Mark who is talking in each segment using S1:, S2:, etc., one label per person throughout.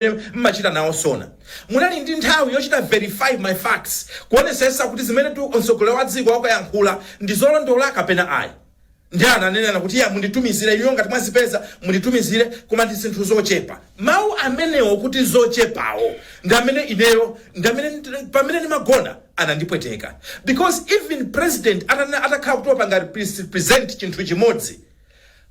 S1: zimene mmachita nawo SONA munali ndi nthawi yochita verify my facts kuonesesa kuti zimene mtsogoleri wa dziko akuyankhula ndi zolondola kapena ayi ndiye ananena kuti iyayi munditumizire inuyo ngati mwazipeza munditumizire koma ndi zinthu zochepa mawu amenewo kuti zochepawo ndi amene ineyo ndi amene nd- pamene ndimagona anandipweteka because even president atana- atakhala kuti wapanga repres- present chinthu chimodzi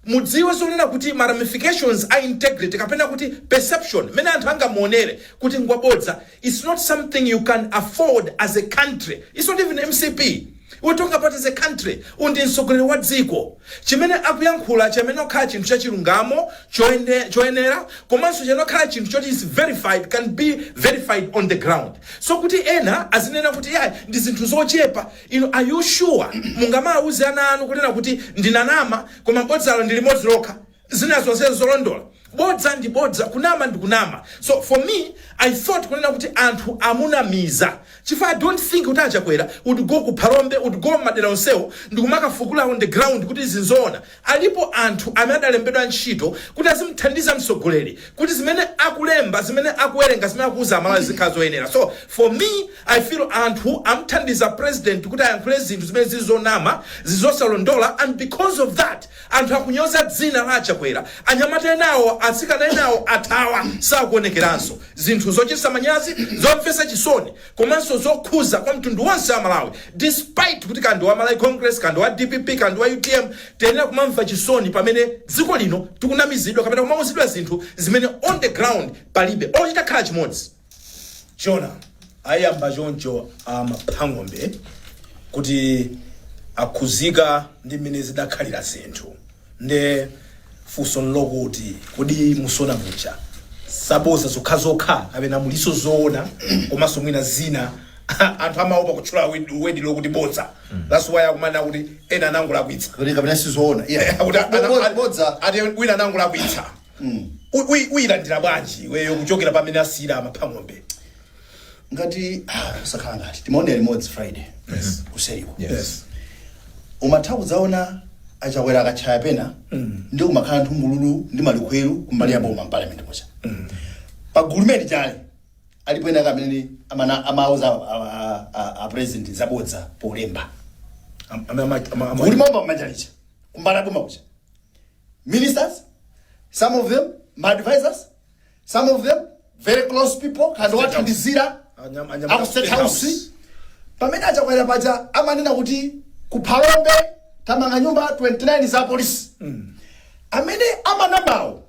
S1: mudziwe zonena kuti ma ramifications a integrity kapena kuti perception mmene anthu angamuonere kuti ngwabodza its not something you can afford as a country its not even mcp we're talking about as a country uyu ndi mtsogoleri wa dziko chimene akuyankhula chimayenera kukhala chinthu chachilungamo choyende- choyenera komanso chimayenera kukhala chinthu choti is verified can be verified on the ground so kuti ena azinena kuti iyayi ndi zinthu zochepa Inu are you sure mungamawuze ana anu kunena kuti ndinanama koma bodzalo ndi limodzi lokha zina zonse zolondola? Bodza ndi bodza, kunama ndi kunama. So for me I thought kunena kuti anthu amunamiza chifukwa I don't think kuti a Chakwera would go ku Phalombe, would go mmadera onsewo ndikumakafukula on the ground kuti izi nzoona. Alipo anthu amene adalembedwa ntchito kuti azimuthandiza mtsogoleri kuti zimene akulemba, zimene akuwerenga, zimene akuuza Amalawi zizikhala zoyenera. So, for me, I feel anthu amuthandiza president kuti ayankhule zinthu zimene zili zonama, zili zosalondola and because of that anthu akunyoza dzina la a Chakwera. Anyamata enawo, atsikana enawo athawa, sakuonekeranso. Zinthu zochititsa manyazi, zomvetsa chisoni. komanso zokhuza kwa mtundu wonse wa Malawi despite kuti kaya ndi wa Malawi Congress kaya ndi wa dpp kaya ndi wa utm tiyenera kumamva chisoni pamene dziko lino tikunamizidwa kapena kumauzidwa zinthu zimene on the ground palibe olo chitakhala chimodzi
S2: Jona ayamba choncho a Maphang'ombe kuti akhuzika ndi mmene zidakhalira zinthu Nde funso nlokuti kodi mu SONA muja zabodza zokhazokha kapena muliso zoona komaso mwina zina anthu amaopa kutchula word- word lokuti bodza that's why akumanena kuti ena anangolakwitsa kuti kapena
S3: sizoona Iya. Akuti ana- Bo- bo-
S2: bodza ati wina anangolakwitsa Uyi- uyi- uyilandira bwanji iweyo kuchokera pamene asiyira a Maphang'ombe
S3: ngati ah, ukusakhala ngati timaonera limodzi friday yes. kuseriko yes. umatha kudzaona a Chakwera akatchaya pena ndi kumakhala nthungululu ndi malikhweru kumbali ya boma mparliament muja pagulu limene lija alipo ena amene amana amauza a- a- a- a president zabodza polemba Am- am- am- am- am- kuli mambo amachalicha kumbali ya boma kuja ministers some of them ma advisors some of them very close people kandi wathandizira Anyam- anyamata a ku state State house House. pamene a Chakwera paja amanena kuti ku Phalombe tamanga nyumba 29 za polisi amene amanamawo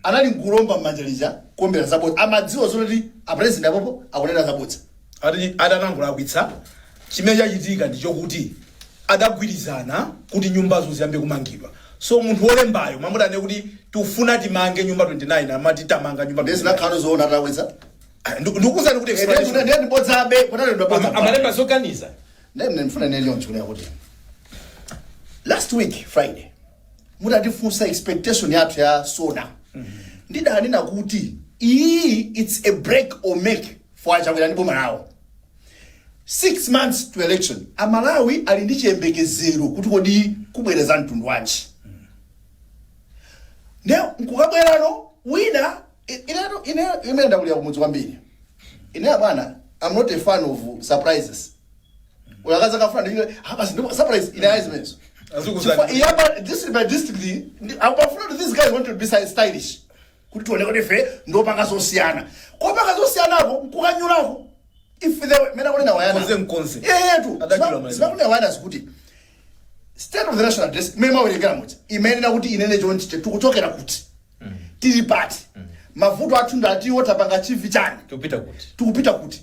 S3: anali nkuomba m'manja lija kuombera zabodza amadziwa zoti a president apopo akunena zabodza ati
S2: adanangolakwitsa chimene chachitika ndi chokuti adagwirizana kuti nyumbazo ziyambe kumangidwa so munthu wolembayo m'malo moti anene kuti tifuna timange nyumba 29 amati tamanga nyumba Ndezi 29. nakhano zoona atawedza.
S3: Ah, ndi- ndikukuuzani
S2: kuti Ndezi explanation. ndezi bodzabe
S3: kunali ndi Ama- bodza. amalemba
S1: zoganiza Ndezi
S3: ndifuna ndinene choncho kunena kuti. Last week Friday mutatifunsa expectation yathu ya SONA. Ndidanena kuti iyi it's a break or make for a Chakwera ndi boma lawo. 6 months to election aMalawi ali ndi chiyembekezero kuti kodi kubwera zamtundu wanji nde nkukabwerano wina i- inetu ine imene ndakulira kumudzi kwambiri ine abwana I'm not a fan of surprises uyakaza kafuna ndile hapa si ndi surprise ine eyes means Azikuzani. yeah but this is my district ndi- apafuna these guys want to be stylish kuti tione kuti ife ndiopanga zosiyana kupanga zosiyanako nkukanyulako ife zimene akunena wayana Mkonze mkonze. eyetu
S2: Adatchula
S3: maliza. zimene akunena wayana zakuti state of the national address imene amawerengera muti imayenera kuti inene chonchi che tikuchokera kuti tili pati mavuto athu ndi ati tapanga chivi chani tikupita kuti tikupita kuti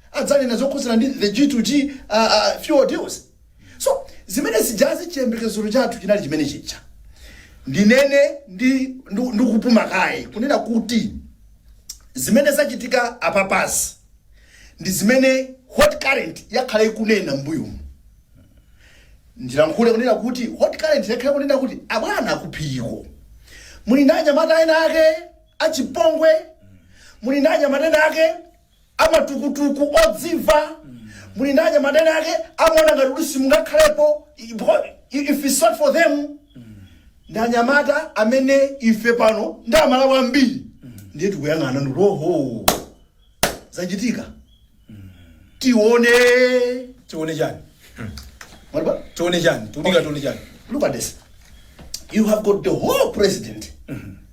S3: adzanena zokhudzana ndi the G2G fuel deals. So zimene zijazi chiyembekezero chathu chinali chimene chija. Ndinene ndi ndu- ndikupuma kaye kunena kuti zimene zachitika apapazi ndi zimene hot current yakhala ikunena mbuyomu. Ndilankhule kunena kuti hot current yakhala kunena kuti abwana a kuphiriko. Muli ndi anyamata ena ake achipongwe, muli ndi anyamata ena ake amatukutuku odzimva muli ndi anyamata ena ake amaona ngati kuti simungakhalepo i- because i- if it's not for them ndi anyamata amene ife pano ndi aMalawi ambiri ndiye tikuyang'ana ndi kuti oho zachitika
S2: tione tione
S3: chani Mwalipa? tione chani
S2: tionetu tione chani look at this
S3: you have got the whole president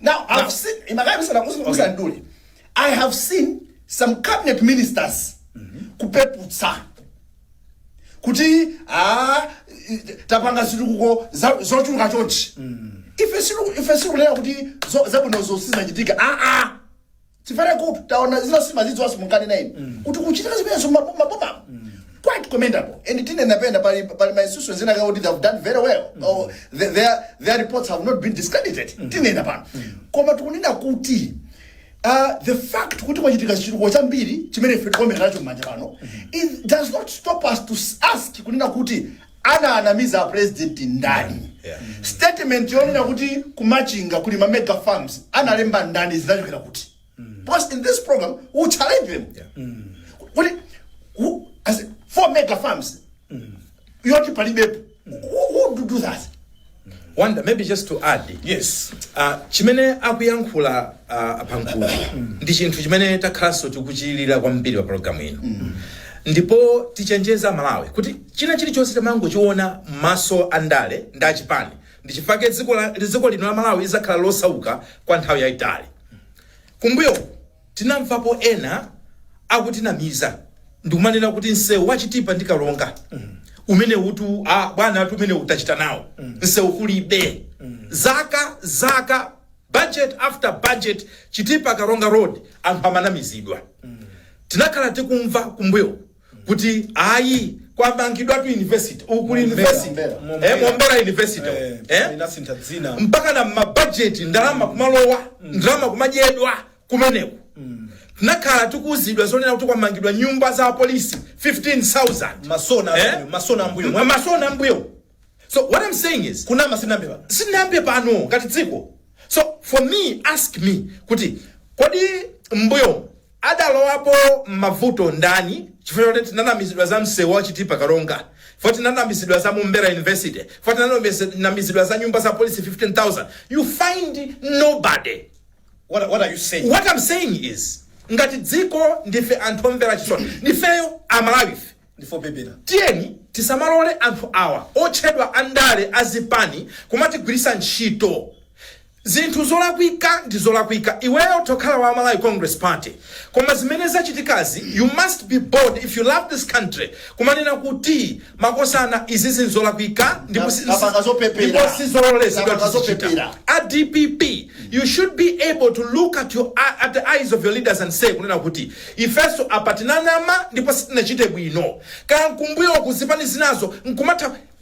S3: Now, I've Now- seen, Imakaya Musa- Musa- Musa Okay. Nduli, I have seen some cabinet ministers kupeputsa kuti ah, tapanga zitukuko za- zochuluka chonchi ife silu- ife sikunena kuti zo- zabwinozo sizachitika aa Tifere kuti taona zina simazidziwa zomwe munkanena inu kuti kuchitika zimenezo mmabu- mabomamu quite commendable and tinenapo pena pali pali ma institutions ena kuti they have done very well or the- their their reports have not been discredited tinena pano koma tikunena kuti Uh, the fact kuti kwachitika chitukuko chambiri chimene ife tikuwombera nacho mmanja pano it does not stop us to s- ask kunena kuti Anawanamiza a president ndani? Statement yonena kuti ku Machinga kuli ma mega farms analemba ndani zinachokera kuti? Because in this program we challenge them. Kuti who- as in, ku mega farms yoti palibepo. Who who would do that?
S1: Wonder maybe just to add yes
S2: uh,
S1: chimene akuyankhula uh, a Mpankulu ndi chinthu chimene takhalanso tikuchilira kwambiri pa programu ino ndipo tichenjeza malawi kuti china chilichonse timangochiona m'maso andale ndi achipani ndi chifake dziko la- dziko lino la malawi lidzakhala losauka kwa nthawi yayitali kumbuyo Tinamvapo ena akutinamiza ndikumanena kuti msewu wa Chitipa ndi Karonga umenewutu a bwanatu umenewu tachita nawo, msewu kulibe. Zaka, zaka, budget after budget, Chitipa-Karonga road, anthu amanamizidwa. Tinakhala tikumva kumbuyoku. kuti ayi kwamangidwa tu university ku Mombera, university Mombera, eh Mombera. mombera university Eh, eh
S2: inasintha dzina mpaka na mabajeti
S1: ndalama kumalowa ndalama kumadyedwa kumeneko tinakhala tikuuzidwa zonena kuti kwamangidwa nyumba za apolisi 15000 masona Eh? ambuyo masona ambuyo M- masona ambuyo so what i'm saying is kunama sitinayambe pano
S2: sitinayambe pano ngati dziko
S1: so for me ask me kuti kodi mbuyo Adalowapo mmavuto ndani? Chifukwa chakuti tinanamizidwa za mseu wa Chitipa Karonga, chifukwa tinanamizidwa za Mombera University, chifukwa tinanamizidwa za nyumba za apolisi 15,000, you find nobody. What, what
S2: are you saying? What I'm saying
S1: is ngati dziko ndife anthu omvetsa chisoni, ndifeyo Amalawife Ndife opepera.
S2: tiyeni
S1: tisamalole anthu awa otchedwa andale azipani kumatigwirisa ntchito Zinthu zolakwika ndi zolakwika iweyo utakhala wa Malawi Congress Party koma zimene zachitikazi you must be bold if you love this country kumanena kuti makosana izi nzolakwika ndipo si Tapanga zopepera. ndipo sizololezedwa Tapanga tizichita zopepera. a dpp you should be able to look at your at the eyes of your leaders and say kunena kuti ifenso apa tinanama ndipo sitinachite bwino kaya nkumbuyoku zipani zinazo nkumatha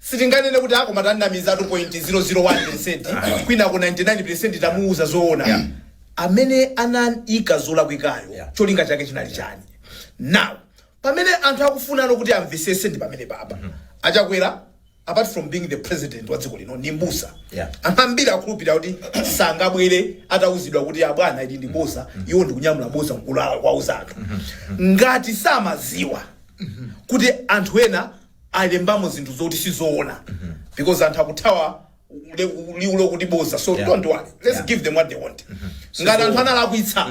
S2: Sitinganene kuti ah koma tanamiza 2.001 percent kwinako 99 percent tamuuza zoona. Yeah. Amene anayika zolakwikayo Yeah. cholinga chake chinali chani? Now pamene anthu akufunano kuti amvesese ndi pamene baba achakwera apart from being the president wa dziko lino ndi mbusa Yeah. anthu ambiri akhulupirira kuti sangabwere atauzidwa kuti abwana ili ndi boza iwo ndikunyamula boza nkulowa kuwauza anthu ngati samaziwa kuti anthu ena alembamo zinthu zoti sizoona because anthu akuthawa le- liwu lokuti boza so Yeah. don't worry let's Yeah. give them what they want ngati anthu analakwitsa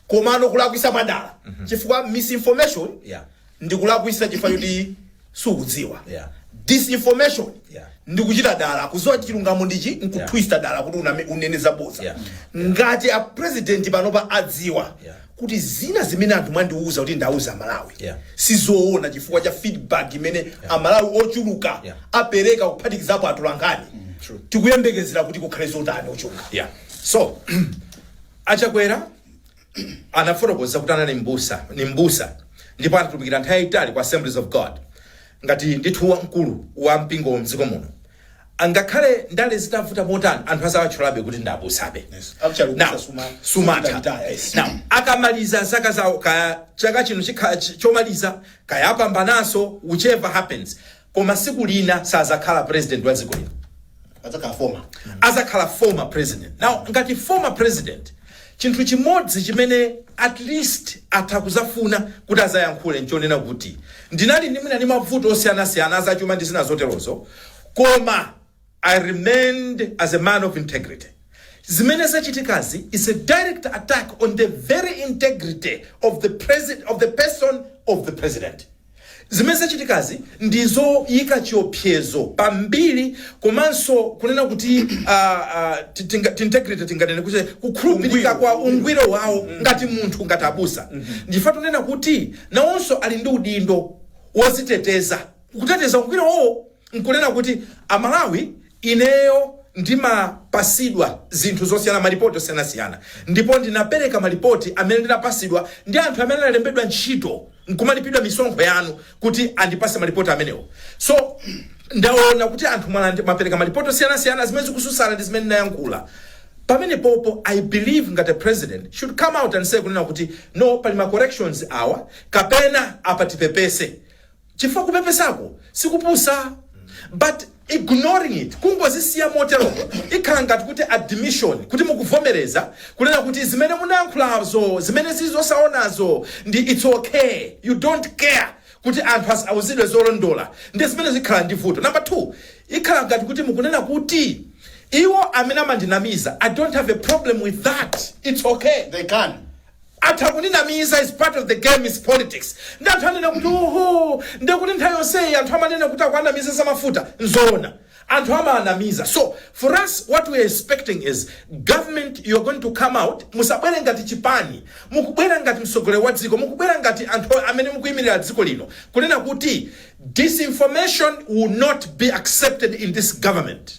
S2: komano kulakwisa mwa dala chifukwa misinformation Yeah. ndi kulakwisa chifukwa choti sukudziwa Yeah. disinformation
S1: Yeah. ndi kuchita
S2: dala kuziwa chilungamo ndichi nkutwista dala kuti uname- unene zaboza Yeah. ngati
S1: a
S2: president panopa adziwa Yeah. kuti zina
S1: zimene
S2: anthu mwandiuza kuti ndauza amalawi Yeah. sizoona
S1: chifukwa
S2: cha feedback imene amalawi ochuluka Yeah. apereka
S1: kuphatikizapo
S2: atolankhani true. tikuyembekezera
S1: kuti
S2: kukhale zotani ochuluka yeah. so
S1: achakwera anafotokoza kuti anali mbusa ni mbusa ndipo anatumikira nthawi yayitali kwa assemblies of god ngati ndithu wamkulu wa mpingo mdziko muno Angakhale ndale zitavuta motani anthu azawatchulabe kuti ndi abusabe. Yes. Actually, ubusa
S2: Now, suma-
S1: sumatha. sumautaya, yes. Now, akamaliza zaka zawo kaya chaka chino chikhala ch- chomaliza kaya apambananso whichever happens koma siku lina sazakhala president wa dziko lino Adzakhala former. azakhala former president now ngati former president Chinthu chimodzi chimene at least atha kuzafuna kuti azayankhule nchonena kuti ndinali ndi mwina ndi mavuto osiyanasiyana azachuma ndi zina zoterozo koma I remained as a man of integrity. Zimene zachitikazi is a direct attack on the very integrity of the president of the person of the president. Zimene zachitikazi ndi zoyika chiopsezo pa mbiri komanso kunena kuti integrity tinganene kuti kukhulupirika kwa ungwiro wawo ngati munthu ngati abusa ndi chifukwa tunena kuti nawonso ali ndi udindo woziteteza kuteteza ungwiro wawo nkunena kuti Amalawi ineyo ndimapasidwa zinthu zosiyana malipoti osiyanasiyana ndipo ndinapereka malipoti amene ndinapasidwa ndi anthu amene analembedwa ntchito nkumalipidwa misonkho yanu kuti andipase malipoti amenewo so ndaona kuti anthu mwalandi- mwapereka malipoti osiyanasiyana zimene zikususana ndi zimene ndinayankhula pamenepopo i believe ngati a president should come out and say kunena kuti no pali ma corrections awa kapena apa tipepese chifukwa kupepesako sikupusa but Ignoring it, kungozisiya moteromo, ikhala ngati kuti admission kuti mukuvomereza kunena kuti zimene munayankhulazo, zimene zili zosaonazo ndi it's okay, you don't care kuti anthu asauzidwe zolondola, ndiye zimene zikhala ndi vuto. Number two, ikhala ngati kuti mukunena kuti iwo amene amandinamiza, I don't have a problem with that, it's okay. They can.
S3: Anthu
S1: akundinamiza is part of the game is politics. Nde anthu anena kuti oho nde kuti nthawi yonseyi anthu amanena kuti akuanamiza za mafuta nzoona. Anthu amaanamiza. So for us what we are expecting is government you are going to come out musabwere ngati chipani mukubwera ngati mtsogoleri wa dziko mukubwera ngati anthu amene mukuyimirira dziko lino kunena kuti disinformation will not be accepted in this government.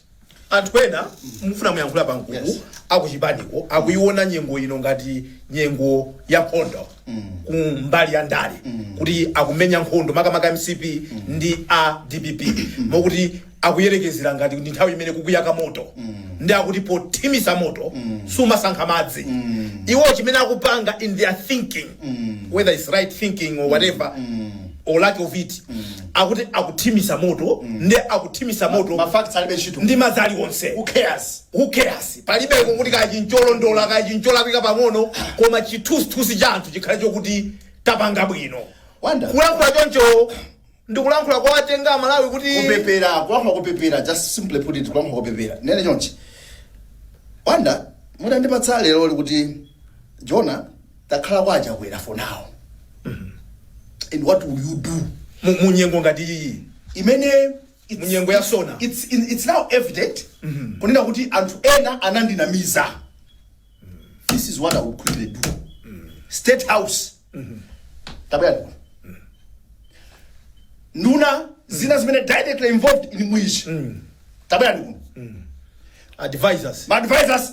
S1: anthu
S2: ena mufuna muyankhula pagulu Yes. akuchipaniko akuiona nyengo ino ngati nyengo ya nkhondo ku mbali ya ndale kuti akumenya nkhondo makamaka mcp ndi a dpp mokuti akuyerekezera ngati ndi nthawi imene kukuyaka moto nde akuti pothimitsa moto sumasankha madzi iwo chimene akupanga in their thinking whether it's right thinking or whatever or lack of it akuti akuthimisa moto nde akuthimisa moto ma facts alibe ntchito
S3: ndi madzi
S2: aliwonse who cares who cares
S3: palibeko kuti
S2: kaya ncholondola kaya ncholakwika pang'ono koma chithusithusi cha anthu chikhale chokuti tapanga bwino Wonder.
S3: kulankhula
S2: choncho ndikulankhula kwawatenga amalawi kuti kupepera kulankhula
S3: kupepera just simply put it kulankhula kupepera nene chonchi wanda mutandipatsa lero kuti jona takhalani a chakwera for now and what will you do Mu- munyengo
S2: ngati iyi
S3: imene it's- Munyengo ya
S2: sona. it's, it's, it's now
S3: evident kunena kuti anthu ena anandinamiza this is what i would quickly do state house tabwerani nduna zina zimene directly involved in mwichi tabwerani
S2: advisors maadvisors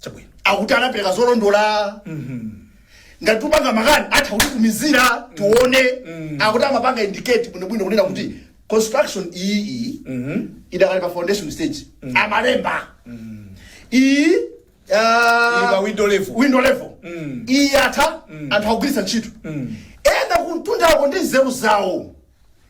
S2: chabwino akuti
S3: anapereka zolondola ngati tupanga makani atha kutitumizira tione akuti amapanga indicate bwinobwino kunena kuti construction iyi iyi idakali pa foundation stage amalemba iyi ah, Ili pa window level. window level iyi atha anthu akugwiritsa ntchito ena kuntundako ndi nzeru zawo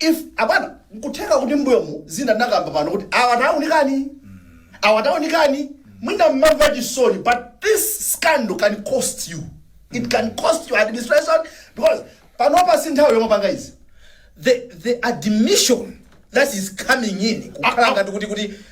S3: if abwana nkutheka kuti mbuyomu zina tinkakamba pano kuti awa taunikani awa taunikani mwina mmamva chisoni but this scandal can cost you it can cost you administration because panopa si nthawi yomapanga izi the the
S2: admission that is coming in kukhala ngati kuti kuti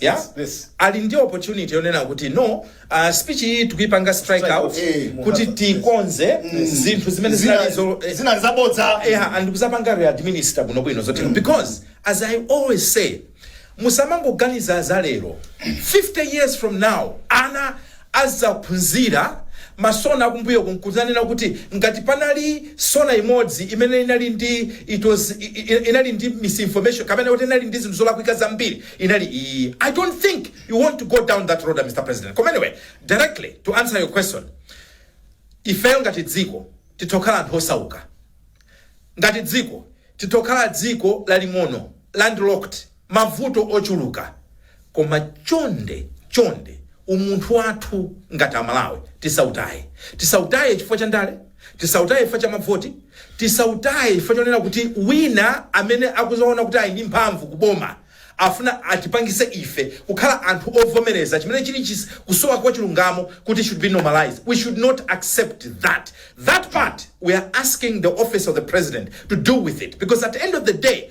S1: ya Yes, yes. ali
S2: ndi
S1: opportunity yonena kuti no uh, speech iyi tikuipanga strike Strike out out, kuti tikonze zinthu zimene zinali zo- eh, zinali
S3: zabodza yeah, and
S1: kuzapanga readminister kuno bwino zoti because as i always say musamangoganiza za lero 50 years from now ana azaphunzira masona akumbuyoku nkuzanena kuti ngati panali sona imodzi imene inali ndi it was i- i- i- inali ndi misinformation kapena kuti inali ndi zinthu zolakwika zambiri inali iyi i don't think you want to go down that road mr president koma anyway directly to answer your question ifeyo ngati dziko tithokhala anthu osauka ngati dziko tithokhala dziko laling'ono landlocked mavuto ochuluka koma chonde chonde umunthu wathu ngati Amalawi tisautaye. Tisautaye chifukwa cha ndale, tisautaye chifukwa cha mavoti, tisautaye chifukwa chonena kuti wina amene akuzaona kuti ali ndi mphamvu ku boma afuna atipangise ife kukhala anthu ovomereza chimene chili chis kusowa kwa chilungamo kuti should be normalised. We should not accept that. That part we are asking the office of the president to do with it because at end of the day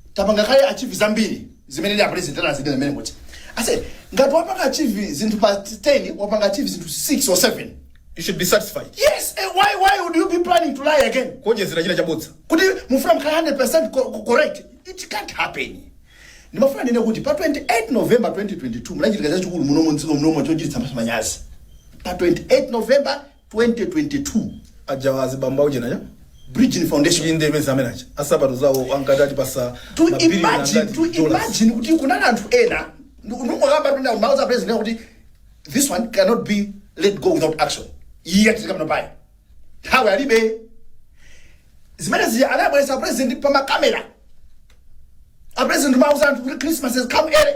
S3: tapanga kale achieve zambiri zimene ndi apresident anazidela zimene kuti I said ngati wapanga achieve zinthu pa 10 wapanga achieve zinthu 6 or 7 you should be satisfied
S2: yes eh, why why
S3: would you be planning to lie again kuonjezera china
S2: chabodza kuti
S3: mufuna mukhale 100% co- co- correct it can't happen ndimafuna ndinene kuti pa 28 november 2022 munachitika chachikulu muno mdziko muno chochititsa maso manyazi pa 28 november 2022 ajawa
S2: azibambo aujena aja bridging
S3: foundation inde imene za amene
S2: aja ansapato zawo ankati atipasa to mabiliyoni imagine
S3: angati to dollars. imagine kuti kunali anthu ena ndikungokamba kuti mauza president kuti this one cannot be let go without action yet tikamanena pa nthawi alibe zimene zija anabweresa a president pa makamera a president mauza anthu kuti christmas has come early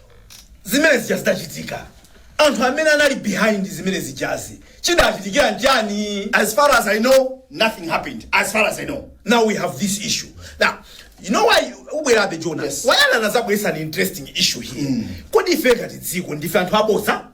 S2: zimene zija zidachitika anthu amene anali behind zimene zijazi chidawachitikira nchani as far as i know
S3: nothing happened as far as i know now we have this
S2: issue now you know why ubwerabe jonas Yes. anazabweresa an interesting issue here kodi ife ngati dziko ndife anthu abodza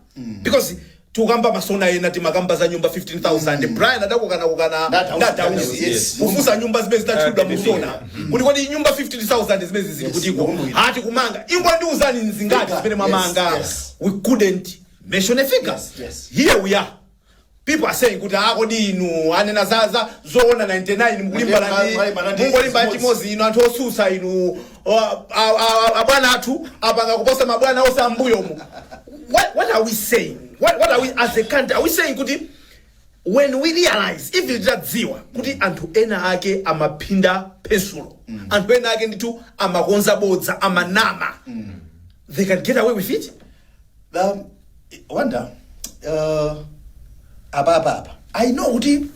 S2: because tukamba masona ena timakamba za nyumba 15000 brian adakukanakukana Na Dausi, na Dausi, dausi yes.
S3: kufunsa nyumba zimene zidatchulidwa
S2: Ah, musona kuti kodi nyumba 15000 zimene zili Yes, kutiko ndikumbukira. ati tikumanga ingondiuzani nzingati Yes, zimene mwamanga yes. we couldn't mention a figure Yes, yes. here we are People are saying kuti ah kodi inu anena za za zoona 99 mukulimbana Ndiye ndi mwalimbana ndi mungolimba chimodzi. chimodzi inu anthu osusa inu o, a- a- a- a bwana athu apanga kuposa mabwana onse ambuyo mu what, what are we saying what, what are we as a country are we saying kuti when we realize if titadziwa kuti anthu ena ake amapinda pensulo anthu ena ake ndithu amakonza bodza amanama they can get away with it I
S3: wonder uh, apa apa apa i know kuti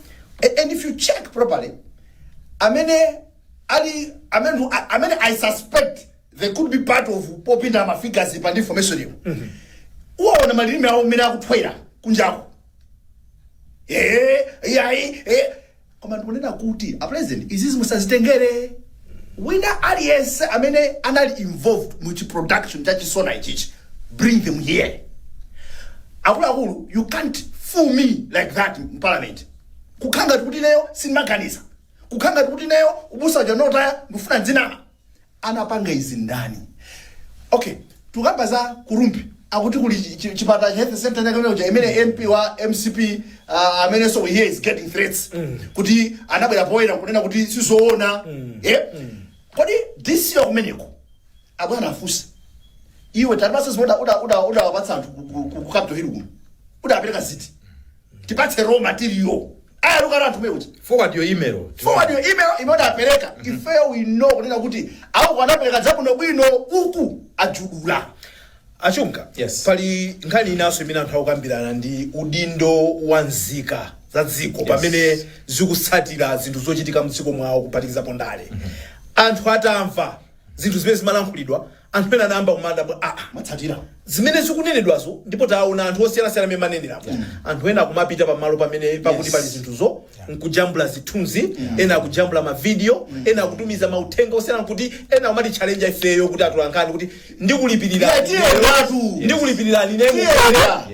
S3: a- and if you check properly amene ali amene who- a- amene i suspect they could be part of popinda ma figures apa ndi information iyo uwaone malilime awo mmene akuthwera kunjako eh yayi eh koma ndikunena kuti a president izizi musazitengere wina aliyense amene anali involved mu chi production cha chisona ichichi bring them here akuluakulu you can't fool me like that in parliament kukhala ngati kuti ineyo sindimaganiza kukhala ngati kuti ineyo ubusa uja notaya ndikufuna ndizinama anapanga izi ndani ok tukamba za ku Rumphi akuti kuli chi- chi- chipatala health center chakechake kuja imene mp wa mcp uh, amene so he is getting threats kuti anabwera poyera kunena kuti sizoona eh? kodi dc wa kumeneko abwana afunse iwe tatipatsa zimene udawapatsa anthu ku- ku- ku- ku capital hill kuno udapereka ziti Tipatse raw material. Ayaluka nawo anthu kumene kuja. Forward your email
S2: tione. Forward your email
S3: imene udapereka. Ifeyo we know kunena kuti a uko anapereka zabwinobwino uku ajudula. A Chunga,
S2: Yes. pali
S1: nkhani
S2: inanso imene anthu akukambirana ndi udindo wa nzika za dziko pamene zikutsatira zinthu zochitika mdziko mwawo kuphatikizapo ndale. Anthu atamva zinthu zimene zimalankhulidwa Anthu ena anayamba kumadabwa, aa,
S3: Mwatsatira. zimene
S2: zikunenedwazo ndipo taona anthu osiyanasiyana amene mwaneneramu. Anthu ena akumapita pamalo pamene pakuti Yes. pali zinthuzo nkujambula zithunzi, ena akujambula mavidiyo, ena akutumiza mauthenga osiyana nkuti ena akumatichalenja ifeyo kuti atolankhani kuti ndikulipirira Tiye, tiye, ndatu. ndikulipirirani Tiye, nemu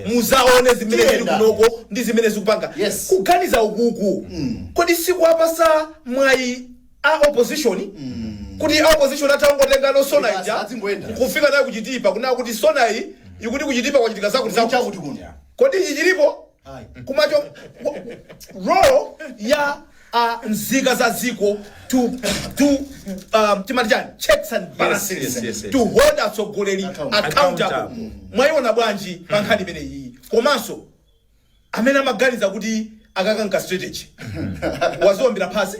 S2: tiye. muzaone zimene Tiye, zili ndatu. kunoko ndi zimene zikupanga Yes. kuganiza ukuku kodi sikuwapatsa mwayi a opposition kuti a opposition atangotenga sona Basi, ija adzingoyenda. kufika nayo ku Chitipa kunena kuti sona iyi ikuti ku Chitipa kwachitika zakuti zakuti chakuti kuno kodi ichi chilipo Ayi. komanso wa- role ya a nzika za dziko to to um, timati chani checks and balances yes, yes, yes. to hold atsogoleri Account- accountable Accountable. mwayiona bwanji pa nkhani imeneyi komanso amene amaganiza kuti akakonza strategy waziombera
S1: phazi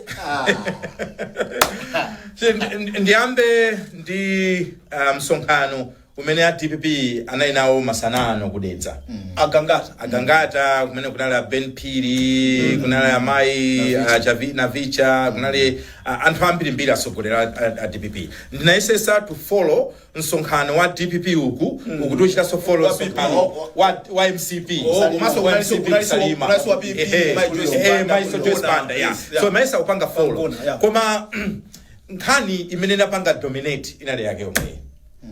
S1: ndi- ndi- ndiyambe ndi uh, msonkhano umene a dpp anali nawo masana ano ku Dedza agangata agangata kumene kunali a ben phiri kunali amayi a Chavi- navicha kunali a- anthu ambirimbiri atsogoleri a, a, a dpp ndinayesesa to follow Msonkhano wa dpp uku ndikuchitanso follow msonkhano wa wa mcp komanso kunali ku Salima mainso joyce banda nso ndimayesa kupanga follow koma nkhani imene inapanga dominate inali yake yomwe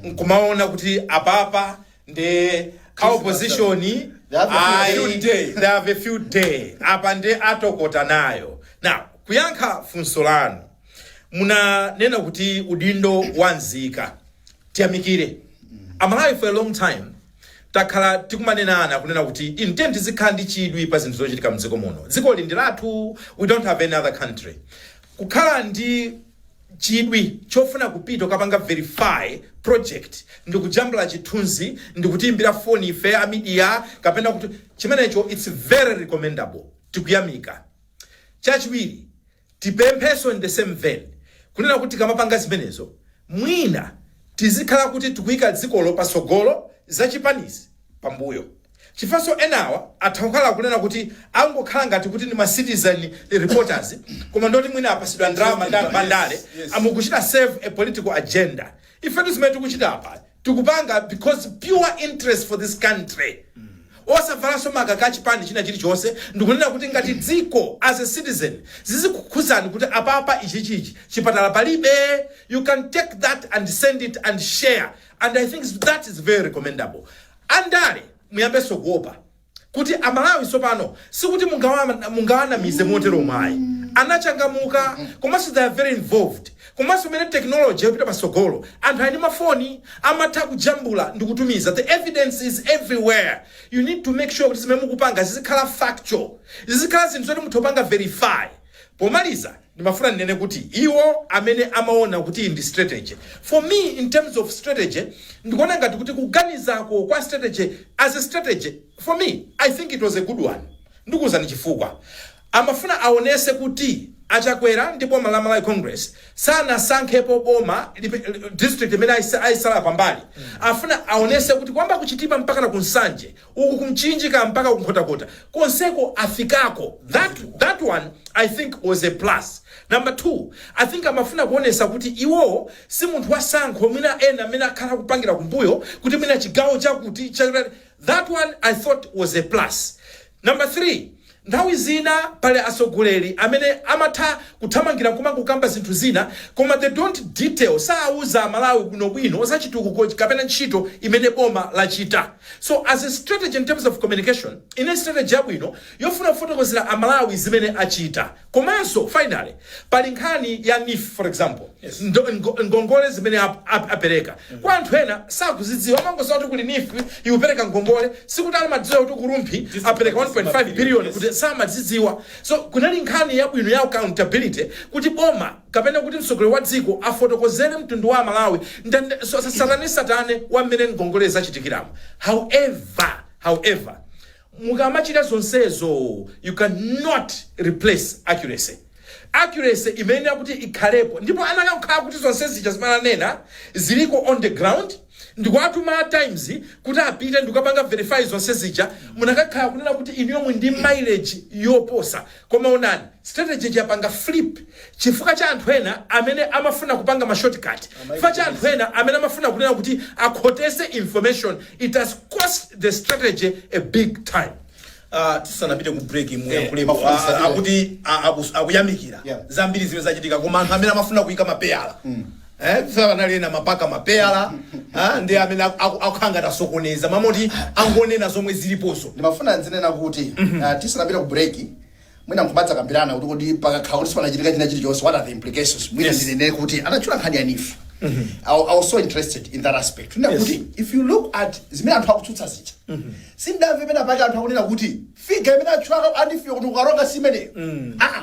S1: nkumaona kuti apapa nde a opposition ayi they have a field day apa nde atokota nayo now kuyankha funso lanu munanena kuti udindo wa nzika tiyamikire amalawi for a long time takhala tikumanenana kunena kuti tiyeni tizikhala ndi chidwi pa zinthu zochitika mdziko muno dzikoli ndi lathu we don't have any other country kukhala ndi chidwi chofuna kupita kukapanga verify project ndikujambula chithunzi ndikutiimbira foni ife a media kapena kuti chimenecho its very recommendable tikuyamikira chachiwiri Tipempheso in the same vein kunena kuti tikamapanga zimenezo mwina tizikhala kuti tikuika dzikolo patsogolo zachipanizo pambuyo chifukwaso enawa atha kukhala kunena kuti angokhala ngati kuti ndi ma citizen reporters koma ndi oti mwina apasidwa ndalama ndi anthu andale nkumachita serve a political agenda ifetu zimene tikuchita apa tikupanga because pure interest for this country osavalanso makaka a chipani china chilichonse ndikunena kuti ngati dziko as a citizen zizikukhuzani kuti apapa ichichi ichi chipatala palibe you can take that and send it and share and i think that is very recommendable andale muyambenso kuopa kuti a Malawi tsopano sikuti mungawanamize moteromo ayi, anachangamuka komanso they are very involved komanso mmene technology yapita patsogolo anthu ali ndi ma phone amatha kujambula ndikutumiza the evidence is everywhere you need to make sure kuti zimene mukupanga zizikhala factual, zizikhala zinthu zoti mutha kupanga verify. Pomaliza. ndimafuna ndinene kuti iwo amene amaona kuti iyi ndi strategy, for me in terms of strategy ndikuona ngati kuti kuganizako kwa strategy as a strategy for me I think it was a good one ndikuuzani chifukwa. Amafuna aonese kuti a Chakwera ndi boma la Malawi Congress sanasankhepo boma, district imene aisa, aisala pambali afuna aonese kuti kuyamba ku Chitipa mpakana ku Nsanje uku ku mchinji kaya mpaka ku nkhotakota konseko afikako that one i think was a plus number two i think amafuna kuonesa kuti iwowo si munthu wa sankho mwina ena amene akhala kupangira kumbuyo kuti mwina chigawo chakuti cha- that one i thought was a plus number three Nthawi zina pali atsogoleri amene amatha kuthamangira nkumangokamba zinthu zina koma they don't detail, saauza amalawi bwino bwino za chitukuko kapena ntchito imene boma lachita. So as a strategy in terms of communication, inali strategy yabwino yofuna kufotokozera amalawi zimene achita komanso finally, Pali nkhani ya NEEF, for example, ndo, ngo, ngongole zimene ap, ap, apereka kwa anthu ena sakuzidziwa, amangoziwa kuti kuli NEEF ikupereka ngongole, sikuti amadziwa kuti ku Rumphi apereka 1.5 billion kuti samazidziwa. So kunali nkhani yabwino ya accountability kuti boma kapena kuti mtsogoleri wa dziko afotokozere mtundu wa Amalawi ndande, so, satanesatane wa mmene ngongole zachitikiramo. However, however Mukamachita zonsezo you can not replace accuracy. Accuracy imayenera kuti ikhalepo ndipo anakakhala kuti zonse zija zimene ananena ziliko on the ground ndikuwatuma a Times kuti apite ndikukapanga verify zonse zija munakakhala kunena kuti inuyo muli ndi mileage yoposa Koma onani, strategy ija yapanga flip chifukwa cha anthu ena amene amafuna kupanga ma shortcut, chifukwa cha anthu ena amene amafuna kunena kuti akhotese information, it has cost the strategy a big time. Ah,
S2: tisanapite ku break muyankhulepo Mafuna Ah, akuti ah, akus- akuyamikira Yeah. zambiri zimene zachitika koma anthu amene amafuna kuyika mapeyala Eh, ife panali ena mpaka mapeyala ah, ndi amene aku- aku- akukhala ngati asokoneza mmalo moti angonena zomwe zilipozo ndimafuna ndinene kuti
S3: ah, tisanapite ku break mwina nkumadzakambirana kuti kodi pakakhala kuti sipanachitika china chilichonse what are the implications mwina Yes. ndinene kuti anatchula nkhani ya NEEF I, I was so interested in that aspect nda Yes. kuti if you look at zimene anthu akutsutsa zija sindinamve pena pake anthu akunena kuti figure imene atchula ya NEEF-yo kuti ku Karonga si imeneyo aa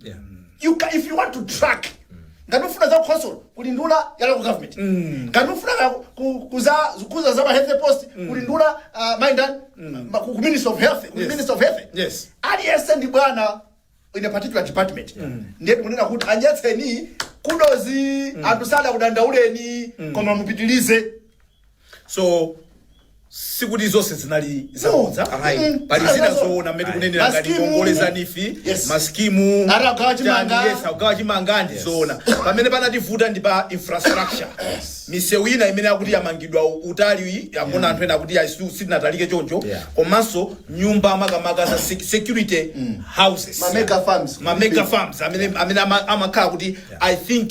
S3: Yeah. you ca- if you want to track ngati ufuna za khonsolo kuli nduna ya local government ngati ufuna ka- ku- kuza kuza za ma health post kuli nduna uh, mind and ma- ku ku minister of health kuli Yes. minister of health Yes.
S2: aliyense ndi
S3: bwana in a particular department ndiye tikunena kuti aonetseni kudos anthu sadakudandauleni koma mupitilize
S2: so sikuti zonse zinali zabodza No. Ayi. Mm. pali zina Zinazo- zoona mmene Ayi. tikunenera ngati Maskimu. ngongole za NEEF Yes. maskimu Ati agawa chimanga. chani, yes, agawa chimanga ndi zoona pamene panativuta ndi pa infrastructure misewu ina imene akuti yamangidwa u- utali akunena anthu ena akuti ya situ- siinatalike choncho Yeah. komanso nyumba makamaka za sec- security houses
S3: Ma mega
S2: farms. ma mega farms amene
S3: amene ama-
S2: amakhala kuti
S3: i
S2: think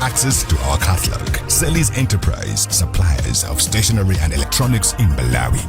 S4: access to our catalog. Selly's Enterprise, suppliers of stationery and electronics in
S2: Malawi.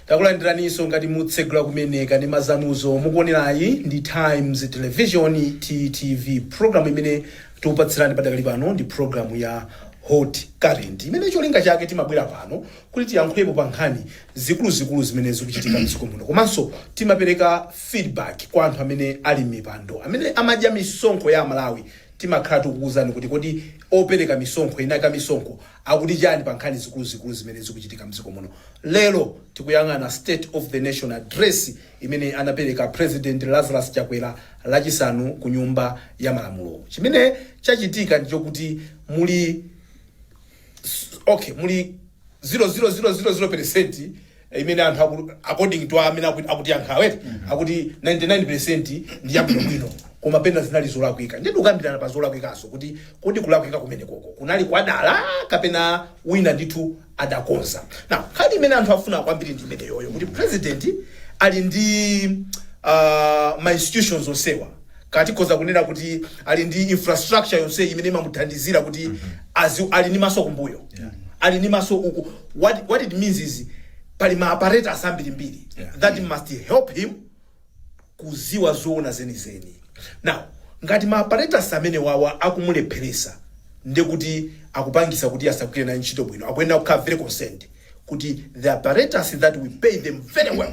S2: takulandiraniso ngati mukutsegula kumene ka ndi ma zanuzo mukuonerayi ndi times television ttv programu imene tikupatsirani padakali pano ndi programu ya hot current imene cholinga chake timabwera pano kuti tiyankhulepo pa nkhani zikuluzikulu zimene zikuchitika mdziko muno komanso timapereka feedback kwa anthu amene ali mmipando amene amadya misonkho ya amalawi timakhala tikukuuzani kuti kodi opereka misonkho eni ake amisonkho akuti chani pa nkhani zikuluzikulu zimene zikuchitika mdziko muno lero tikuyang'ana state of the nation address imene anapereka president lazarus chakwera lachisanu ku nyumba ya malamulo chimene chachitika ndichokuti muli okay muli 0.0000 percent imene anthu aku- according to amene aku- akutiyankhawa akuti 99 percent ndi yabwinobwino koma pena zinali zolakwika ndiye tikukambirana pa zolakwikazo kuti kodi kulakwika kumene koko kunali kwadala kapena wina ndithu adakonza now nkhani imene anthu akufuna kwambiri ndi imene yoyo kuti president ali ndi uh, ma institutions onsewa Kaya tikhoza kunena kuti ali ndi infrastructure yonseyi imene imamuthandizira kuti ali ndi maso kumbuyo. Ali ndi maso uku. What, what it means is pali ma apparatus ambirimbiri Yeah. that must help him kuziwa zoona zenizeni now ngati ma apparatus amene wawa akumulepheresa ndekuti akupangisa kuti asagwire ntchito bwino akuyenera kukhala very concerned kuti the apparatus that we pay them very well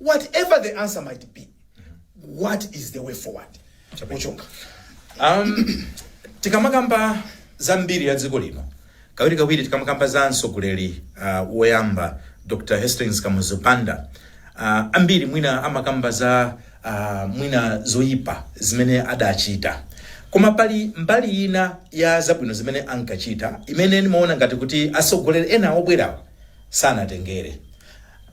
S2: what ever the answer might be what is the way forward ochonga um,
S1: tikamakamba za mbiri ya dziko lino kawiri kawiri tikamakamba za mtsogoleri uh, woyamba dr hastings kamuzu banda uh, ambiri mwina amakamba za uh, mwina zoyipa zimene adachita koma pali mbali ina ya zabwino zimene ankachita imene ndimaona ngati kuti atsogoleri ena obwerawa sanatengere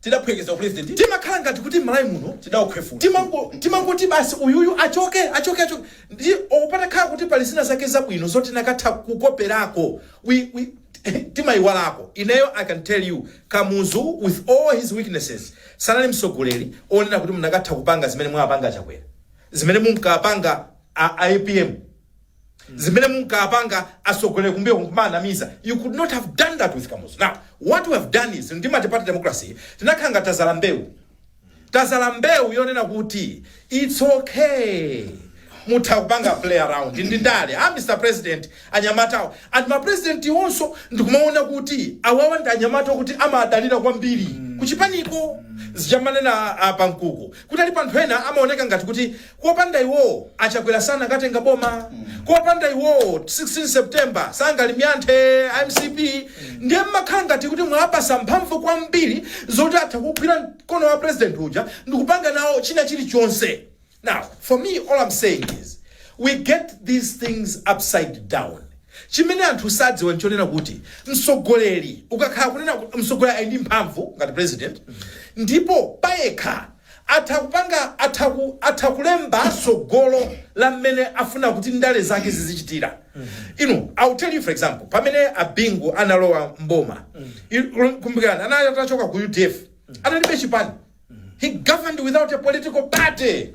S1: tidaphweketsa u president timakhala ngati kuti mmalawi muno tidaukhwefula timango timangoti basi uyuyu achoke achoke achoke ndi or patakhala kuti pali zina zake zabwino zoti tinakatha kukoperako we we timayiwalako ineyo i can tell you kamuzu with all his weaknesses sanali mtsogoleri onena kuti munakatha kupanga zimene mwapanga achakwera zimene munkapanga a apm zimene munkapanga atsogoleri kumbuyo kumanamiza you could not have done that with kamuzu now what we have done is ndi multiparty democracy tinakhala ngati tazala mbewu tazala mbewu yonena kuti its okay mutha kupanga play around ndi ndale mr president anyamatawo and mapresident iwonso ndikumaona kuti awawa ndi anyamata kuti amadalira kwambiri kuchipaniko zija amanena apa nkuku kuti pali anthu ena amaoneka ngati kuti Kopanda iwowo a Chakwera sakanatenga boma, kopanda iwowo 16 September sangalimyanthe MCP ndiye mumakhala ngati kuti mwawapatsa mphamvu kwambiri zoti atha kugwira mkono wa president uja ndikupanga nawo china chilichonse now for me all I'm saying is we get these things upside down chimene anthu sadziwa nchonena kuti msogoleri ukakhala kunena msogoleri ali ndi mphamvu ngati president ndipo payekha Atha kupanga, atha ku, atha kulemba tsogolo la mmene afuna kuti ndale zake zizichitira. I will tell you for example, pamene a Bingu analowa m'boma, i, kumbukirani, anali atachoka ku udf, analibe chipani. He governed without a political party.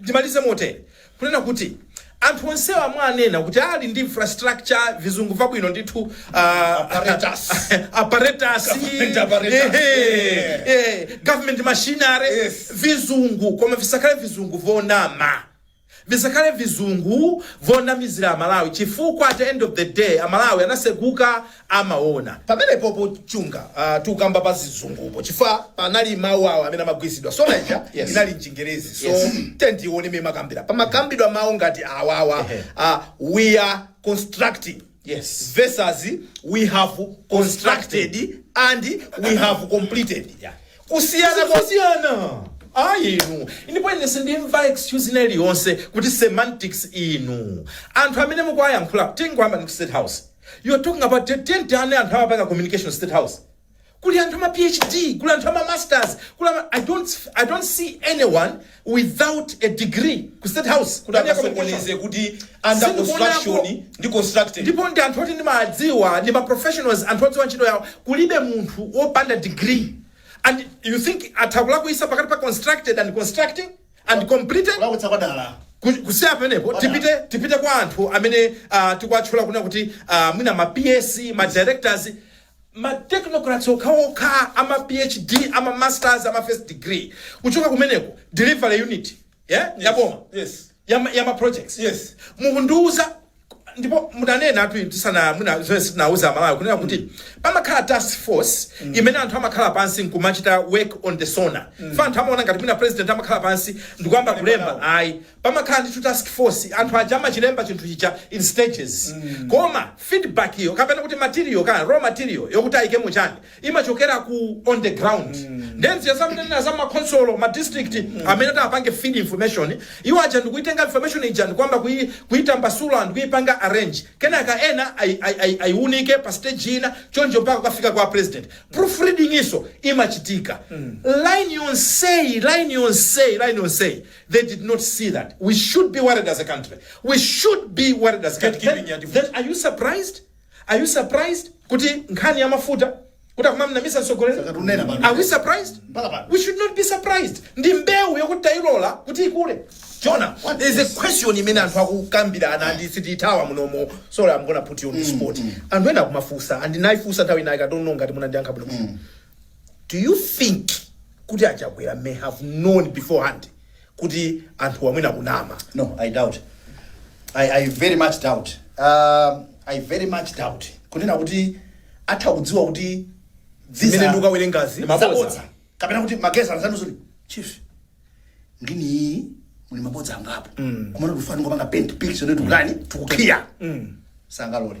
S1: Ndimalize motere, kunena kuti anthu onsewa amene anena kuti ali ndi infrastructure vizungu vabwino ndithu ah, Apparatus. apparatus, Government apparatus. ehe, Yeah. eh, government machinery Yes. vizungu koma visakhale vizungu vonama visakhale vizungu vonamizira amalawi chifukwa at the end of the day amalawi anaseguka amaona
S2: pamenepopo Chunga uh, tukamba pa zizungupo chifukwa panali mawu awo amene amagwiritsidwa SONA ija Yes. inali mchingerezi so Yes. tendione mmene mmakambira pamakambidwa mawu ngati awawa Ehe. uh, we are constructing Yes. versus we have constructed and we have completed Yeah. kusiyana kwa
S1: kusiyana ayi inu ndipo ine sindimva excuse ina iliyonse kuti semantics inu anthu amene mukuwayankhula tingoyamba ndi ku state house You are talking about a team ya anthu amapanga communication state house kuli anthu ama phd kuli anthu ama masters kuli ama, I, don't, i don't see anyone without a degree ku state house kuti Kani ya communication? akasokoneze kuti
S2: under Sindikuonapo. construction ndi constructed ndipo ndi anthu
S1: oti ndimadziwa ndi ma professionals anthu odziwa ntchito yawo kulibe munthu wopanda degree and you think atha kulakwisa pakati pa constructed and constructing and completed kulakwitsa kwa dala Ku- kusiya pamenepo Wadala. tipite tipite kwa anthu amene uh, tikuwatchula kunena kuti uh, mwina ma ps ma directors ma technocrats okhaokha ama phd ama masters ama first degree kuchoka kumeneko delivery unit yeah? yaboma yes ya, ma-
S2: ya ma projects
S1: yes mukundiuza ndipo munanenatu inu tisana mwina zimene sitinauze amalawi kunena kuti pamakhala task force imene anthu amakhala pansi nkumachita work on the sona chifukwa anthu amaona ngati mwina president amakhala pansi ndikuyamba kulemba ayi pamakhala ndithu task force anthu aja amachilemba chinthu chija in stages koma feedback iyo kapena kuti material kaya raw material yokuti ayikemo chani imachokera ku on the ground then zija amanena za makhonsolo ma district amene ati apange feed information iwo aja ndikuitenga information ija ndikuyamba kui- kuitambasula ndikuipanga arrange kenaka ena ai- ai- ai- aiunike pa stage ina choncho mpaka kukafika kwa president proof reading izo imachitika line yonseyi line yonseyi line yonseyi they did not see that we should be worried as a country we should be worried as a country Gatekeeping ya then, then are you surprised Are you surprised kuti nkhani ya mafuta kuti akumamnamiza mtsogoleri? Sakutinena pano. Are we surprised? Mpaka pano. We should not be surprised. Ndi mbewu yokuti tayilola kuti ikule. Jonah, there is
S2: is- a question imene anthu akukambirana ndipo sitithawa munomo. Sorry, I'm gonna put you on the spot. Anthu ena akumafunsa and ndinayifunsa nthawi inayi I don't know ngati munandiyankha bwino. Do you think kuti achakwera may have known beforehand kuti anthuwa mwina akunama no i doubt
S3: i, I very much doubt uh, i very much doubt kunena kuti atha kudziwa kuti dzisa- Zimene
S2: ndikukawerengazi, ndi mabodza.
S3: zabodza. kapena kuti magesi anzanuzuli chief ngini iyi muli mabodza angapo koma tikufuna tingopanga paint picture ndiye kutani tikukhiya sangalole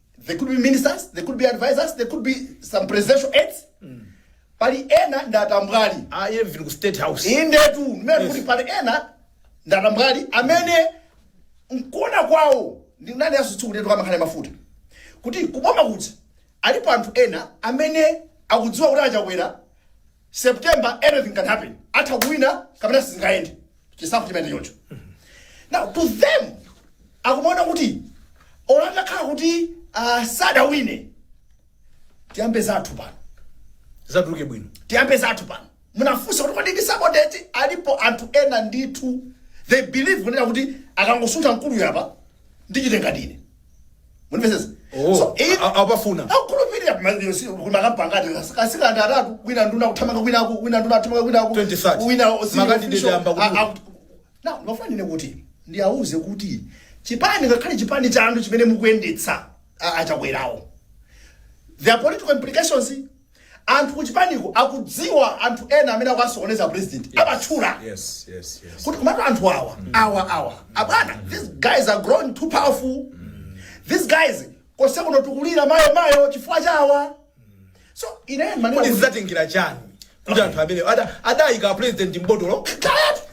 S3: they could be ministers they could be advisors they could be some presidential aides pali ena ndi atambwali Ah, even ku state
S2: house. indetu mmene kuti
S3: pali ena ndi atambwali amene mkuona kwawo ndi nani asutsukuletu kamakhale mafuta kuti kuboma kuja alipo anthu ena amene akudziwa kuti achakwera September anything can happen. Atha kuwina kapena sizingaende. Chisankho chimene choncho. Now to them akumaona kuti olo atakhala kuti uh, sadawine tiyambe zathu pano.
S2: zatuluke bwino tiyambe zathu
S3: pano munafunsa kuti kodi ndi sabotage alipo anthu ena ndithu they believe kunena kuti akangosuntha mkuluyu apa ndichitenga ndine munimvesesa Oh,
S2: so if a- apafuna akukhulupirira
S3: mandiyo si kumakampanga ati makandideti atatu wina nduna kuthamanga kwinaku wina nduna kuthamanga kwinaku 2030. wina si-
S2: Makati official,
S3: ndiyamba kuti- a- a- na ndimafuna ine kuti ndiyauze kuti chipani ngakhale chipani cha anthu chimene mukuyendetsa a- achakwerawo there are political implications Anthu kuchipaniko akudziwa anthu ena amene akuwasokoneza apresident awatchula Yes, yes,
S2: yes. kuti komatu anthu
S3: awa awa awa abwana these guys are growing too powerful these guys konse kuno tikulira mayo mayo chifukwa chawa so ine ndimanena Kodi kuti- zidzatengera chani
S2: kuti anthu amene ada- adayika apresident mbotolo Kaya-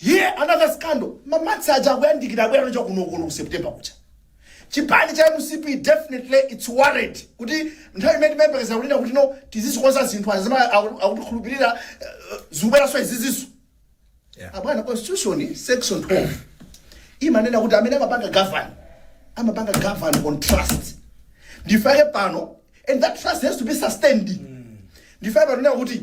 S3: Here another scandal, ma March aja akuyandikira abwera nacho kuno kuno ku September kucha. Chipani cha mcp definitely it's worried kuti nthawi imene timayembekeza kulira kuti no tizizikonza zinthu aja zimene aku- akutikhulupirira eh, zikubweranso izizi. Yeah.
S2: Abwana
S3: constitution section 12 imanena kuti amene amapanga govern amapanga govern on trust ndifake pano and that trust has to be sustained ndifake pano nena kuti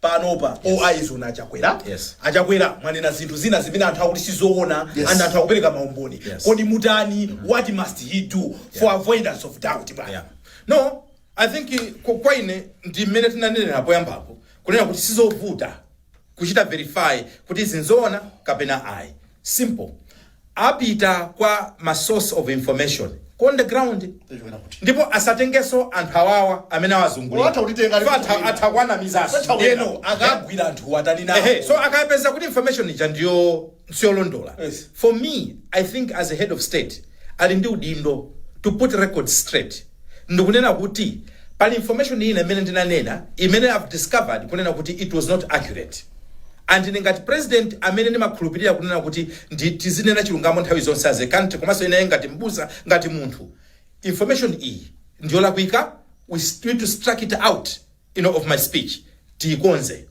S3: panopa yes.
S2: all eyes on achakwera yes.
S1: achakwera mwanena
S2: zinthu zina zimene anthu akuti sizoona yes. and anthu akupereka maumboni yes. kodi mutani mm -hmm. what must he
S1: do yeah.
S2: for avoidance of doubt
S1: bwana
S2: yeah. no
S1: i think eh, kwa ine ndi mmene tinanenera poyambapo kunena kuti sizovuta kuchita verify kuti izi nzoona kapena ayi simple apita kwa ma source of information ku on the ground Zachokera kuti. ndipo asatengeso anthu awawa amene Atha awazungulira kutitenga So atha- ali- atha kuwanamizaso Atha kuwanama. ndeno
S2: akagwira anthu watani nawo Ehe, so akapeza
S1: kuti information ija ndiyo siyolondola Yes. for me
S2: i
S1: think as a head of state ali ndi udindo to put record straight ndikunena kuti pali information ina imene ndinanena imene I've discovered kunena kuti it was not accurate and ine ngati president amene ndimakhulupirira kunena kuti ndi tizinena chilungamo nthawi zonse as a country komanso ineyo ngati mbusa ngati munthu information iyi ndiyolakwika we, we need to strike it out out of my speech tiikonze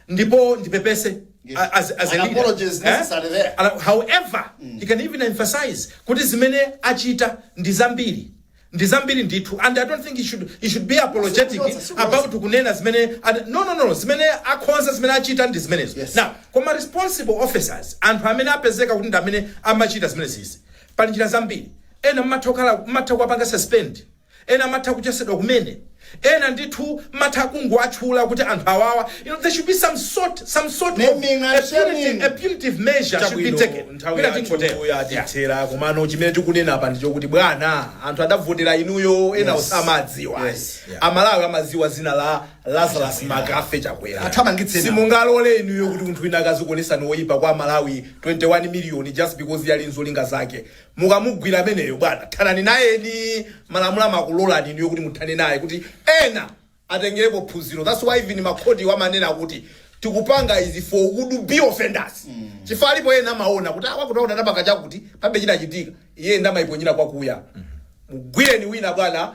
S1: ndipo ndipepese a- as, as a An leader. apology is necessary Eh?
S3: there. Ala-
S1: however he can even emphasize kuti zimene achita ndi zambiri ndi zambiri ndithu and i don't think he should, he should be apologetic Sikuchotsa, sikuchotsa. about kunena zimene and- no no no no, zimene akhonza zimene achita ndi zimenezo Yes. now koma responsible officers anthu amene apezeka kuti ndi amene amachita zimenezi pali njira zambiri ena mmatha kukhala- mmatha kuwapanga suspend Ena atha kuchotsedwa kumene, ena ndithu mutha kungowatchula kuti anthu awawa you know there should be some sort some sort of Naming and a punitive shaming. a punitive measure should be Chabwino taken. nthawi Mwina yathu tingotero. Yeah. yatithera
S2: komano chimene tikunena apa ndichokuti bwana anthu adavotera inuyo enawo Yes. samawadziwa Yes. Yeah. amalawi amadziwa zina la lazarus mccarthy chakwera Athamangitse enawo. simungalole inuyo kuti munthu wina akazikuonesani woyipa kwa amalawi 21 miliyoni just because iye ali nzolinga zake Mukamugwira ameneyo bwana thanani nayeni, malamulo amakulorani inuyo kuti muthane naye kuti ena atengerepo phunziro that's why even makhotiwo amanena kuti tikupanga izi for would be offenders chifukwa alipo ena amaona kuti awa kuno anapanga chakuti palibe chinachitika iye nde amaiponyera kwakuya. Mugwireni wina bwana.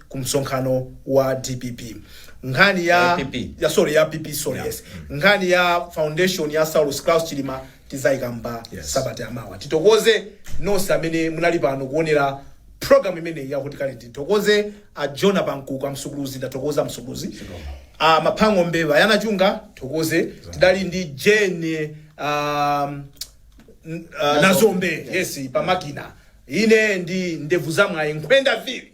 S2: ku msonkhano wa dpp nkhani ya, Ya PP. ya sorry ya pp sorry Yeah. yes nkhani ya foundation ya saulos klaus chilima tizaikamba Yes. sabata yamawa tithokoze nonse amene munali pano kuonera program imeneyi yakuti kale tithokoze a jonah pankuku amsuguluzi ndathokoza msuguluzi a maphango mbeva yana chunga thokoze tidali ndi jane um, n- uh, nazombe yes pamakina ine ndi ndevu zamwayi nkhwenda vili